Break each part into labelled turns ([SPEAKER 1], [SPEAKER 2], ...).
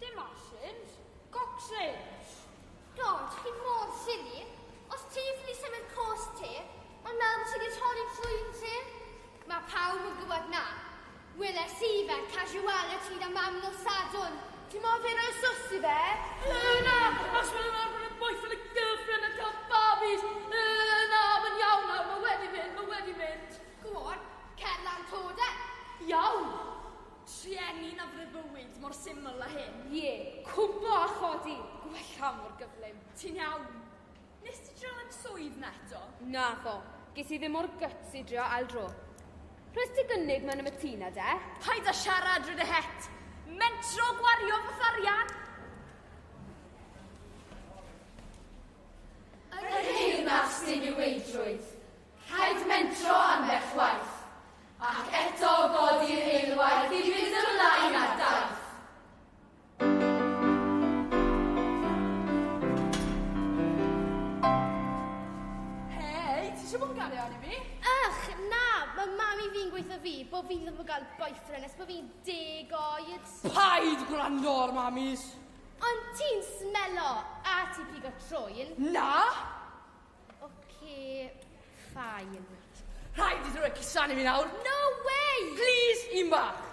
[SPEAKER 1] Dim asins, gocsins! Dod, chi mor silly! Os ti fy ni symud cost ti, ond nawr fy ti di torri trwyn ti? Mae pawb yn gwybod na. Weles i fe, casuality da mam nos sadwn. Ti mor fyr o'i sws i fe? Yy na! Os maen nhw'n arfer yn boyfriend a girlfriend a cael babis! Yy na! Mae'n iawn nawr, mae wedi mynd, mae wedi mynd. Go on, cer lan to de! Iawn! Trueni na freuddwyd mor syml â hyn. Ie, cwmpo a chodi, gwella mor gyflym. Ti'n iawn? Wnest ti drio yn swydd 'na eto? Naddo, ges i ddim o'r guts i drio ail dro. Rhoes ti gynnig ma' na'm y tŷ 'na de? Paid â siarad, ry dy het! Mentro gwario fy harian! Yn y Deyrnas Diniweidrwydd, rhaid mentro ambell waith. Ac eto godi'r eilwaith i fynd ymlaen â'r daith. Hei, ti eisiau bod yn gario arni fi? Ych, na, mae mami fi'n gweithio fi bod fi ddim yn gael boyfriend nes bod fi'n deg oed. Paid gwrando ar mamis! Ond ti'n smelo a ti'n pigo trwyn. Na! Oce, ffain. Rhaid i ddrwy cusanu mi nawr. No way! Please, un bach.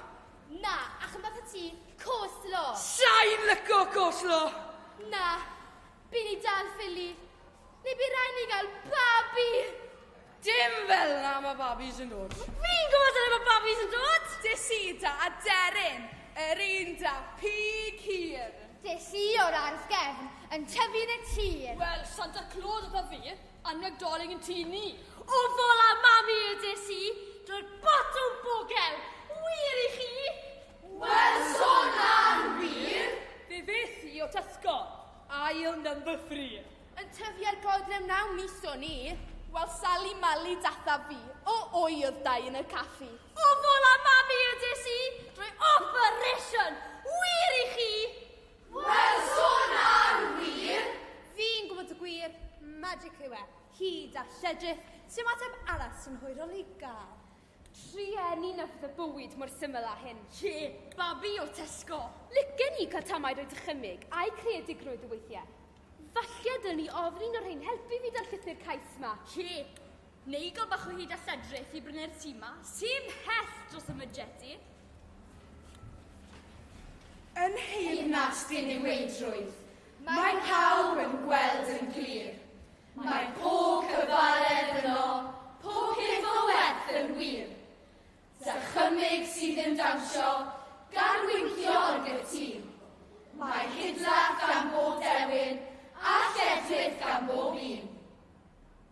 [SPEAKER 1] Na, ac yn bach y ti, coslo. Sain lyco coslo! Na, byn i dal ffili. Neu bu rai ni gael babi! Dim fel na mae babis yn dod. Fi'n gwybod dyna mae babis yn dod! Desida a Derin, yr un da pig hir. Des i o'r ardd gefn, yn tyfu yn y tir. Wel, Santa Claus oedd a fi, a Nadolig yn tŷ ni. O fol a mami y des i, drwy'r botwm bogel. Wir i chi? Wel, sôn ar wir. Fe fes i o Tesco, ail number three. Yn tyfu ar godrew naw mis o'n i. Wel, Sali Mali dathaf fi, o wy oedd dau yn y caffi. Pobl a mami ydys i drwy operation! Wir i chi! Wel, sôn am wir! Fi'n gwybod y gwir, magic yw e. Hyd a lledrith, sy'n ateb arall sy'n hwyrol i gael. Trueni na fydd y bywyd mor syml â hyn. Ie, babi o Tesco! Licen i cael tamaid o'i dychymyg a'i creadigrwydd o weithiau. Falle dylwn i ofyn i un o'r rhein helpu fi 'da'r llythyr cais 'ma. Ie, Neu gael bach o hyd a lledrith i brynu'r tŷ 'ma, sy'n mhell dros y mydjed i. Yn nheyrnas diniweidrwydd, mae pawb yn gweld yn glir, mae pob cyfaredd yno, pob peth o werth yn wir. Dychymyg sydd yn dawnsio gan wincio yn gytûn. Mae hidlaff gan bob dewin a lledrith gan bob un.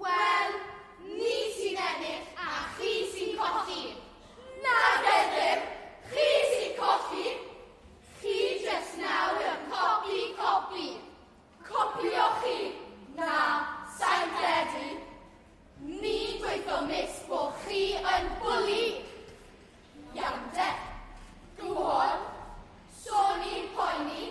[SPEAKER 1] Wel, ni sy'n ennill a chi sy'n colli. Na gennym, chi sy'n colli. Chi jyst nawr yn copi, copi. Copio chi? Na, sa'n credu. Ni dweithio mis bo chi yn bwli. Iawn de. Go on. So ni'n poeni.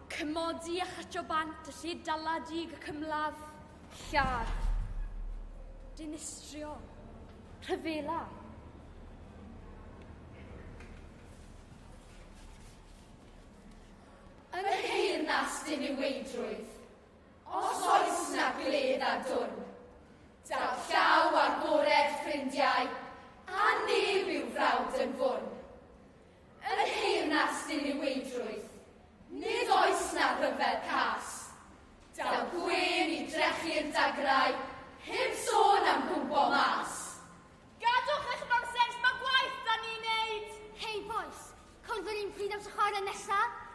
[SPEAKER 1] Cymodi a chytio bant y lle daladig ac ymladd. Lladd. Dinistrio. Rhyfela. Yn y deyrnas diniweidrwydd, os oes na gledd a dwn, daw llaw agored ffrindiau, a neb i'w frawd yn fwn. Yn nheyrnas diniweidrwydd, nid oes na ryfedd cas. Daw gwên i drechu'r dagrau, heb sôn am gwmpo mas. Gadwch eich nonsens, mae gwaith 'da ni'n neud! Hei bois, cwn fy r'un pryd am tro chwarae nesa?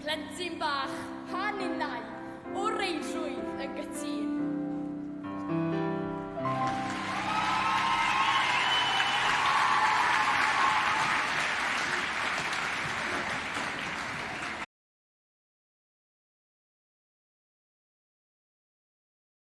[SPEAKER 1] Plentyn bach, pa ninnau o reidrwydd yn gytûn?